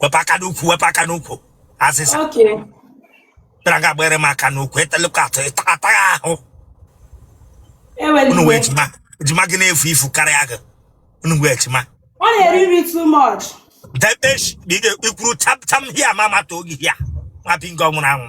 wepụ aka n'ukwu wepụ aka n'ukwu azịza Okay. bịara nga gbara m aka n'ukwu etelekwa atụ ịta- ataghị ahụ Eweli unu wee iwe. ejima ejima gị na-evu ivu karịa gị unu wụ ejima Ọ na-eri nri too much. debesh ikwuru tam tam hia ma mata oge hia nwa bingo nwụrụ anwụ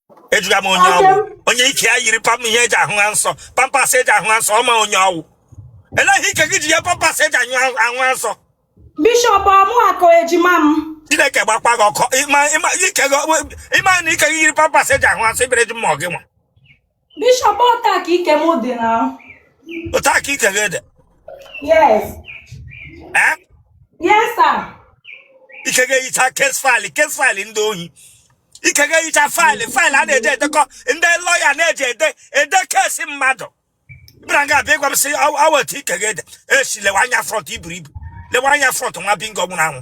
ajụga m onye ọ wụ onye ike ya yiri pam ihe eji ahụ ha nsọ Pampers eji ahụ ha nsọ ọma onye ọ wụ elee ihe ike gị ji yie Pampers eji anyụ ahụ ha nsọ bishọp ọmụakọ ejima m chineke gbakwa gị ọkụ ịma ịma ike gị ị ma na ike gị yiri Pampers eji ahụ ha nsọ ibere ji mmụọ gị nwa bishọp otu a ka ike m dị na otu a ka ike gị dị yes ee yes sir ike gị eyicha case file case file ndị ohi ike gị eyicha file file a na-eji edekọ ndị lawyer na-eji ede ede case mmadụ bịara nga abịa ịgwa m sị aweta ike ga-ede esi lewe anya front i buru ibu lewe anya front nwa bingo nwụrụ anwụ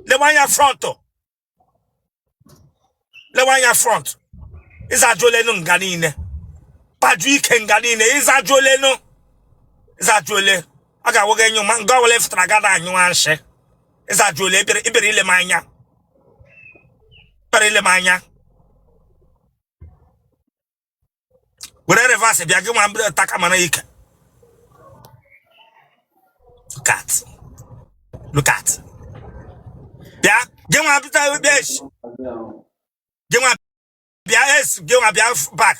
lewe anya front lewe anya front ị zajuolenu nga niile kpaju ike nga niile ị zajuolenu ị zajuole a ga-awụga enyo ma nga ọbụla ị fụtara ga-anyụ nshị ị zajuole ebere ebere lee m anya ebere lee m anya were reverse bịa gị nwa mbere taka mara ike look at look at bịa gị nwa bịa bịa echi gị nwa bịa es gị nwa bịa back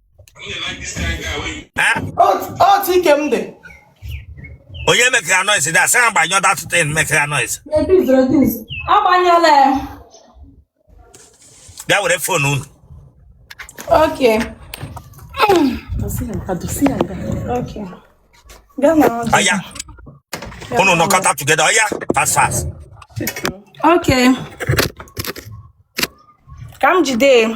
otu ike m dị onye mekara noise dị asị ha gbanyụọ that thing mekara noise agbanyụọla ya bịa were phone unu Okay. Okay. Aya. Unu nọkọta together. Aya, fast fast. Okay. Ka m jide.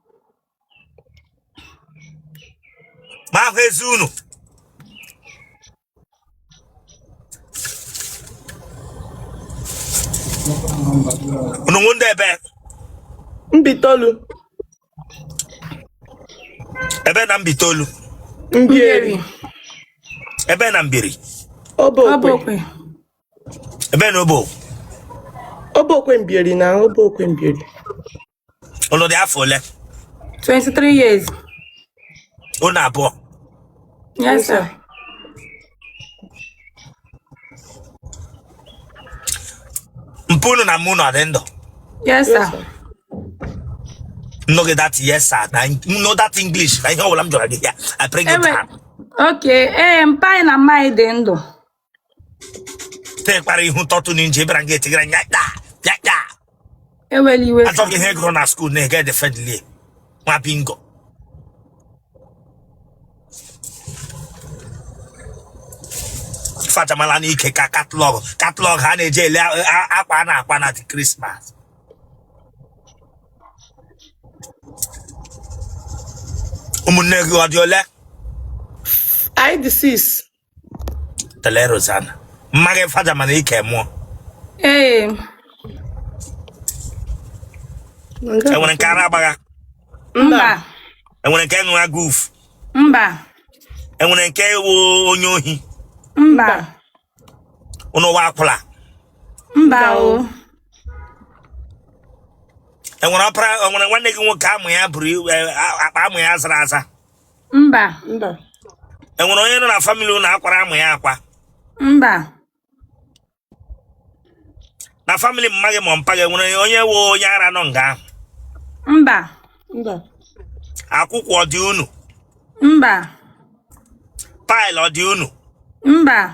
maka ezi unu unu wụ ndị ebee Mbaitolu ebee na Mbaitolu Mbieri ebee na Mbieri Obokwe ebee na Obo Obokwe Mbieri na Obokwe Mbieri Unu dị afọ ole? 23 years. Unu abụọ. Yes, sir. Mpa unu na mma unu ọ dị ndụ? Yes, sir. Nnoge that yes sir na no that English na ihe ọbụla m jụrụ gị ya. I bring it Ewe- down. Okay, ee, mpa anyị na mma anyị dị ndụ. lekwara ihu tọtụ na inji ịbara gị etigara nya ya ya ya ewela iwe achọghị ihe gụrụ na school na-ege defendli nwa bingo fachamala n'ike ka catalogue catalogue ha na-eji ele a- a- akwa a na-akwa na Christmas ụmụnne gị ọ dị ole anyị dị six lele Rosanna mma gị faja mana ike mụọ Ee. enwere nke ara agbagha Mba. enwere nke ṅụra guf Mba. enwere nke wụ onye ohi Mba. unu wụ akwụla Mba o. enwere ọpara enwere nwanne gị nwoke amụ ya buru ibu, a- akpa amụ ya zara aza mba mba enwere onye nọ na family unu akwara amụ ya akwa mba na family mma gị ma mpa gị enwere onye wụ onye ara nọ nga ahụ mba mba akwụkwụ ọ dị unu mba pile ọ dị unu mba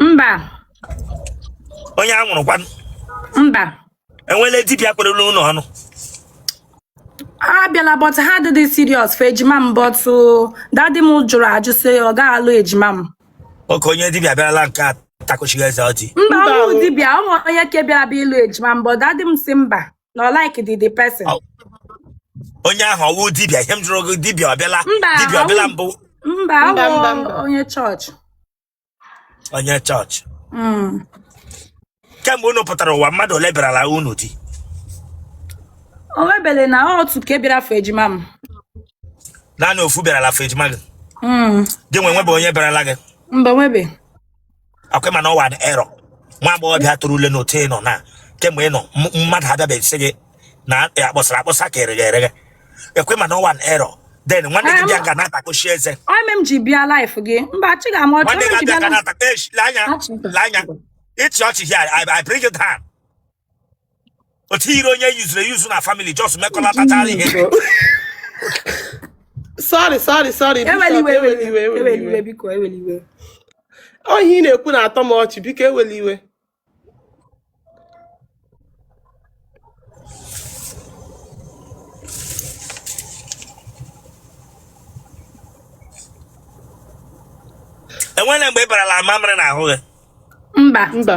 mba onye anwụrụ kwanụ mba enwela dibịa kwere unu ọnụ abịala but ha adịghị serious for ejima m but uh, daddy m jụrụ ajụ sị ọ gaghị alụ ejima m okay onye dibịa bịarala nke a takochighị eze ọjị mba Mba ụmụ o. dibịa ọ wụ onye ke bịara bịa ịlụ ejima m but daddy m sị mba na ọ like the the person Ọ- onye ahụ ọwụ dibịa ihe m jụrụ gị dibịa ọbịala Mba, dibịa ọbịala ọwụ- mbụ mba Mba, awụ mba, mba. onye chọọchị onye chọọchị Mm. kemgbe unu pụtara ụwa mmadụ ole bịarala unu di o nwebele naanị otu ke bịara for ejima m naanị ofu bịarala for ejima gị Mm. gị nwa nwebe onye bịarala gị mba nwebe akwa ị ma na ọ wụ an error nwa agbọghọbịa torule n'otu ị nọ na kemgbe ị nọ m- mmadụ abịabeghị sị gị na akpọsara akpọsa ka ereghe ereghe akwa ị ma na ọ wụ an error then nwanne gị bịa ga na-atakoshi eze ọmị m ji bịa laif gị mba achịghị m ọchị nwanne ọmị m gị ji bịa abịa ga laif na-atakoshi anya Achị. anya ịchị ọchị here I, I bring you down otu iri onye yuzuru eyuzu na family just mekọlatachara ihe sorry sorry sorry eweli iwe eweli iwe eweli iwe biko eweli iwe ọ ihe ị na-ekwu na-atọ m ọchị biko eweli iwe enwere mgbe a barala amamịrị na ahụ gị mba mba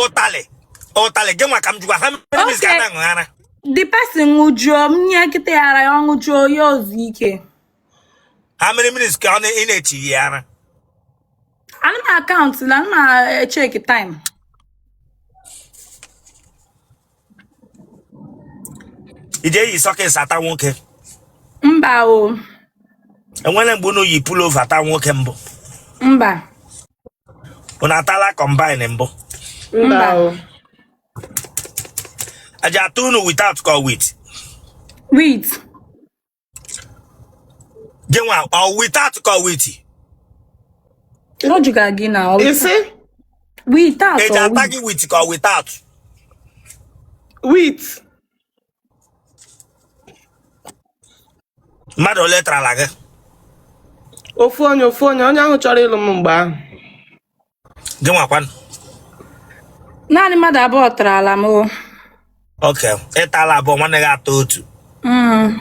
ụtalị ụtalị gị nwa ka m jụkwa how many mins ka a na-aṅụ ara the person ṅụjuo m nye nkịta ya ara ya ọ ṅụjuo ya o zu ike how many mins ka ọ na- ị na-echi ya ara ana m akaụntụ na ana m echeki time ị ji eyi socks ata nwoke mba o enwere mgbe unu yi pullover ata nwoke mbụ mba unu atala combine mbụ mba o a ji ata unu without ka ọ with with gị nwa ọ without ka ọ with ọ jụga gị na ọ isi without e ji ata gị with ka ọ without with mmadụ ole tarala gị ofu onye ofu onye onye ahụ chọrọ ịlụ m mgbe ahụ gị nwakwanụ naanị mmadụ abụọ tarala m o. okay ị tala abụọ nwanne gị atọ otu Mm.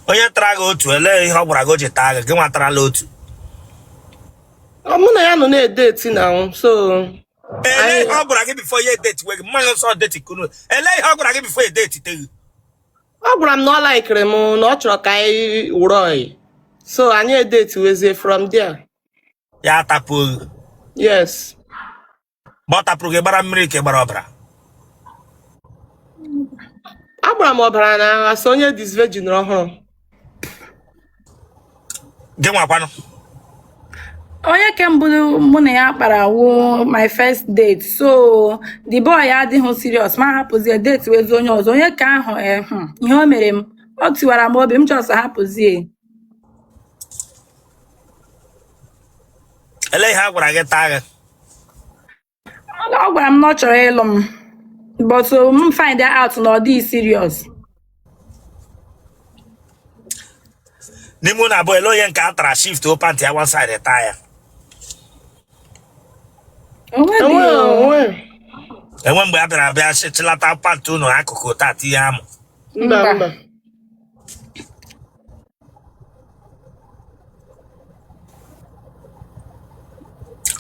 onye tara gị otu elee ihe ọ gwara gị o ji taa gị gị nwa tarala otu Ọ mụ na ya nọ na-edeti na nwụ so elee ihe ọ gwara gị before ya edetiwe gị mmanụ nsọ deti kunu elee ihe ọ gwara gị before e detite gị ọ gwara m na ọ laikiri m na ọ chọrọ ka anyị wụrụ ọyị so anyị edetiwezie from there ya atapụọ gị yes mgbe ọ tapụrụ gị ị gbara mmiri ka ị gbara ọbara agbara m ọbara na as onye disvirgin ọhụrụ gị nwakwanụ onye ke mbụ mụ na ya kpara wụ my first date so the boy adịghị serious m ahapụzie datewezi onye ọzọ onye ke ahụ eh, hmm, ihe o mere m ọ tiwara m obi m just hapụzie elee ihe a gwara gị taa gị ọ gwara m na ọ chọrọ ịlụ m but so m find out na ọ dịghị serious n'ime unu abụọ elee onye nke a tara shiftuo pantị ya one side taa ya O nweghị Enweghị o. onwe. enwe mgbe a bịara bịa chịlata pantị unu akụkụ taa tinye amụ Mba Mba. mba.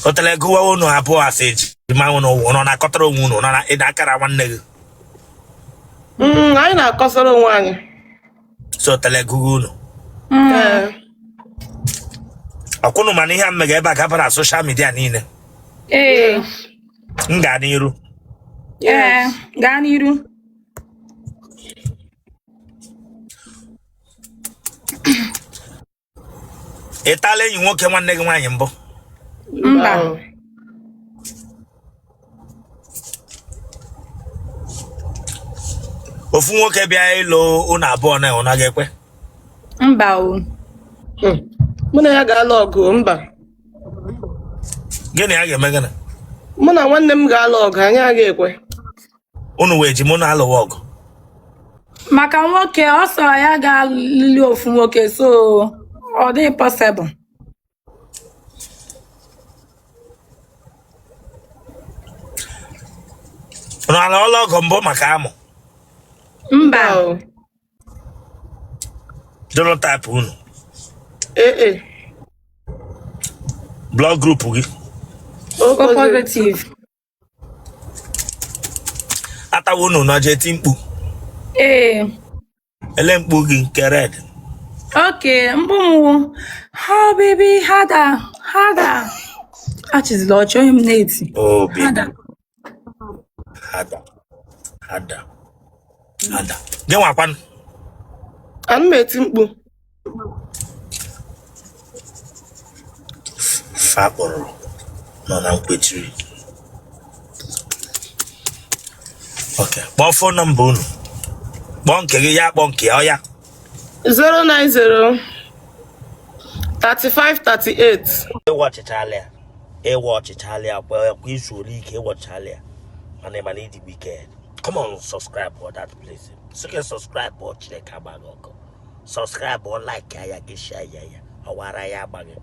otele gụwa unu abụọ a sị ejima unuwa nọ na-akọtara onwe unu nọ na ịda akara nwanne gị Mm, anyị na-akọsara onwe anyị so otele gụwa unu Ee. ọ kwa unu ma na ihe a m mega ebe a gabara na soshal midia niile Ee, m gaa n'iru ee, gaa n'iru. ị tala enyi nwoke nwanne gị nwaanyị mbụ mba ofu nwoke bịa ịlụ unu abụọ unu ga-ekwe mba o Hmm. mụ na ya ga-alụ ọgụ mba gị na ya ga-eme gịnị mụ na nwanne m ga-alụ ọgụ anyị agaghị ekwe unu wụ ejima unu alụwa ọgụ maka nwoke ọ sọ ya ga-alụli ofu nwoke so ọ dịghị pọsịbụl unu alụọla ọgụ mbụ maka amụ mba Wow. genotype unu AA. blood group gị O positive. a tawa unu na-eji eti mkpu ee ele mkpu gị nke red okay mkpu m wụ oh baby harder harder achịzila ọchị onye m na-eti obi harder harder harder harder gị nwakwanụ ana m eti mkpu Ife a kpọrọ nọ na nkwechiri. Okay. Kpọọ fon nọmba unu. Kpọọ nke gị ya kpọọ nke ya ọ ya. 090 35 38 Ị wọchịchaala ya. Ị wọchịchaala ya kwa ọ kwa i zuola ike ị wọchịchaala ya. Mana ị ma na ị dị wicked. Come on subscribe for that place. Sị gị subscribe for Chineke agba gị ọkụ. subscribe like ya gị share ya ya ọwara ya agbaghị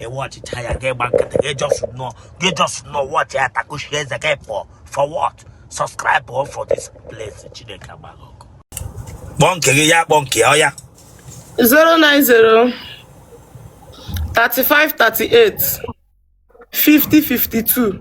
ị wọchịchaa ya gị gba nkịtị gị jọs nọ gị jọs nọ wọchị ya takushi eze gị pọ for what subscribe o for this place Chineke agba gị ọkụ kpọọ nke gị ya kpọọ nke ya 090 35 38 50 52